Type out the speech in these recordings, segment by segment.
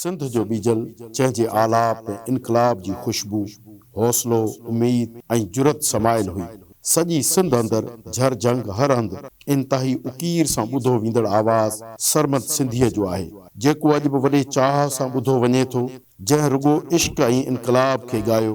سنڌ جو ٻيجل جنهن جي آلاپ ۾ انقلاب جي خوشبو، حوصلو، اميد ۽ جرئت سمايل هئي. سڄي سنڌ اندر جھر جھنگ هر هنڌ انتهائي اڪير سان ٻڌو ويندڙ آواز سرمد سنڌيء جو آهي، جيڪو اڄ به وڏي چاهه سان ٻڌو وڃي ٿو، جنهن رڳو عشق ۽ انقلاب کي ڳايو.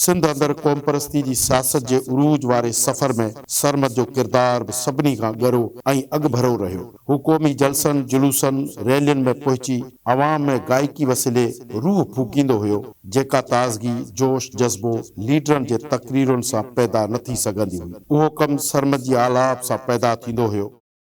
سنڌ اندر قومپرستي جي سياست جي عروج واري سفر ۾ سرمد جو ڪردار به سڀني کان ڳرو ۽ اڳڀرو رهيو. هو قومي جلسن، جلوسن، ريلين ۾ پهچي عوام ۾ گائڪي وسيلي روح ڦوڪيندو هيو، جيڪا تازگي، جوش جذبو ليڊرن جي تقريرن سان پيدا نه ٿي سگهندي هئي. اهو ڪم سرمد جي آلاپ سان پيدا ٿيندو هيو.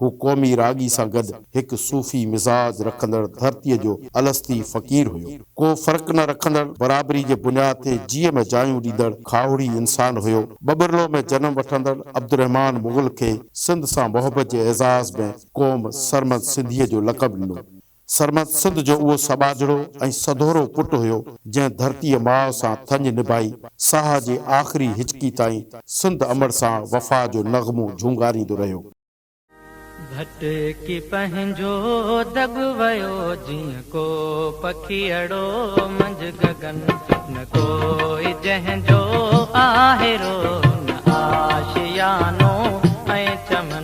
هو قومي راڳي سان گڏ هڪ صوفي مزاج رکندڙ ڌرتيء جو الستي فقير هيو. ڪو فرق نه رکندڙ، برابري جي بنياد تي جيء ۾ جايون ڏيندڙ کاهوڙي انسان هيو. ٻٻرلو ۾ جنم وٺندڙ عبدالرحمان مغل کي سنڌ سان محبت جي اعزاز ۾ قوم سرمد سنڌيء جو لقب ڏنو. سرمد سنڌ جو اهو سٻاجهڙو ۽ سڌورو پٽ هيو، جنهن ڌرتيء ماء سان ٿڃ نڀائي، ساهه جي آخري هچڪي تائين سنڌ امڙ سان وفا جو نغمو جهونگاريندو رهيو. ڀٽڪي پنهنجو دٻ ويو، جيئن ڪو پکيئڙو منجهه گگن. نه ڪوئي جنهن جو آهرو، نه آشيانو ۽ چمن.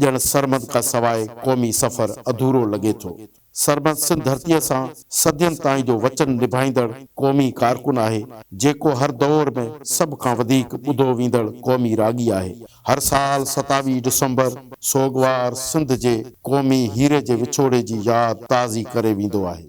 ڄڻ سرمد کان سواء قومي سفر اڌورو لڳي ٿو. سرمد سنڌ ڌرتيء سان صدين تائين جو وچن نڀائيندڙ قومي ڪارڪن آهي، جيڪو هر دؤر ۾ سڀ کان وڌيڪ ٻڌو ويندڙ قومي راڳي آهي. هر سال ستاويهه ڊسمبر سوڳوار سنڌ جي قومي هيري جي وڇوڙي جي ياد تازي ڪري ويندو آهي.